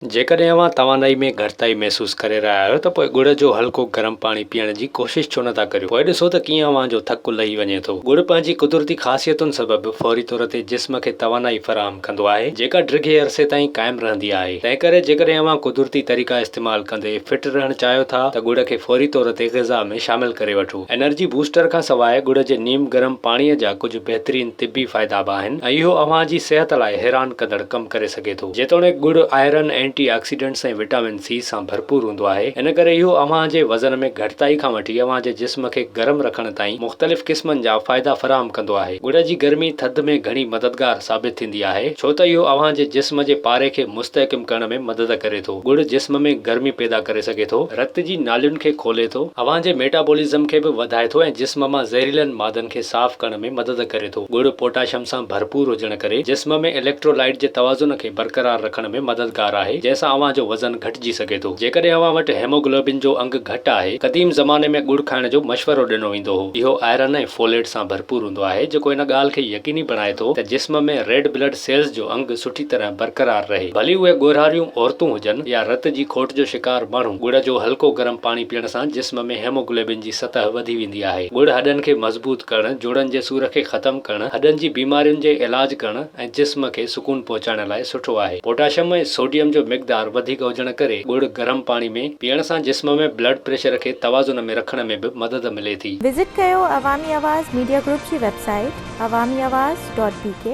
جيڪڏهن اوهان توانائي ۾ گهٽتائي محسوس ڪري رهيا آهيو ته پوء ڳڙ جو هلڪو گرم پاڻي پيئڻ جي ڪوشش ڇو نٿا ڪريو. پوء ڏسو ته ڪيئن اوهان جو ٿڪ لهي وڃي ٿو. ڳڙ پنهنجي قدرتي خاصيتن سبب فوري طور تي جسم کي توانائي فراهم ڪندو آهي، جيڪا ڊگهي عرصي تائين قائم رهندي آهي. تنهنڪري جيڪڏهن اوهان قدرتي طريقا استعمال ڪندي فٽ رهڻ چاهيو ٿا ته ڳڙ کي فوري طور تي غذا ۾ شامل ڪري وٺو. انرجي بوسٽر کان سواء ڳڙ جي نيم گرم پاڻي جا ڪجهه بهترين طبي فائدا به آهن ۽ اهو اوهان جي صحت لاء حيران ڪندڙ ڪم ڪري سگهي ٿو. سگهي ٿو. جيتوڻيڪ ڳڙ iron, antioxidants ۽ vitamin C سان ڀرپور هوندو آهي، ان ڪري اهو اوهان جي وزن ۾ گهٽتائي کان وٺي اوهان جي جسم کي گرم رکڻ تائين مختلف قسمن جا فائدا فراهم ڪندو آهي. ڳڙ جي گرمي ٿڌ ۾ گهڻي مددگار ثابت ٿيندي آهي، ڇو ته اهو اوهان جي جسم جي پاري کي مستحڪم ڪرڻ ۾ مدد ڪري ٿو. ڳڙ جسم ۾ گرمي پيدا ڪري سگهي ٿو، رت جي نالين کي کولي ٿو، اوهان جي ميٽابولزم کي به وڌائي ٿو ۽ جسم مان زهريلن مادن کي صاف ڪرڻ ۾ ۾ مدد ڪري ٿو. ڳڙ پوٽاشيم سان ڀرپور هجڻ ڪري جسم ۾ اليڪٽرولائيٽ جي توازن کي برقرار رکڻ ۾ مددگار آهي، جنهن سان اوهان جو وزن گهٽجي سگهي ٿو. جيڪڏهن اوهان وٽ هيموگلوبن جو انگ گهٽ آهي، قديم زماني ۾ ڳڙ کائڻ جو مشورو ڏنو ويندو هو. اهو آئرن ۽ فوليٽ سان ڀرپور هوندو آهي، جيڪو ان ڳالهه کي يقيني بڻائي ٿو ته جسم ۾ ريڊ بلڊ سيلز جو انگ سٺي طرح برقرار رهي. ڀلي اهي ڳورهاريون عورتون هجن يا رت جي کوٽ جو شڪار ماڻهو، ڳڙ جو هلڪو گرم پاڻي پيئڻ سان جسم ۾ هيموگلوبن جي جي سطح وڌي ويندي آهي. ڳڙ هڏن کي مضبوط ڪرڻ، جوڙن جي سور کي ختم ڪرڻ، هڏن جي بيمارين جي علاج ڪرڻ ۽ جسم کي سڪون پهچائڻ لاء سٺو آهي. پوٽاشم ۽ سوڊيم جو مقدار وڌيڪ هجڻ ڪري ڳڙ گرم پاڻي ۾ پيئڻ سان جسم ۾ بلڊ پريشر کي توازن ۾ رکڻ ۾ به مدد ملي ٿي. وزٽ ڪيو عوامي آواز ميڊيا گروپ جي website Awami Awaz dot بي ڪي.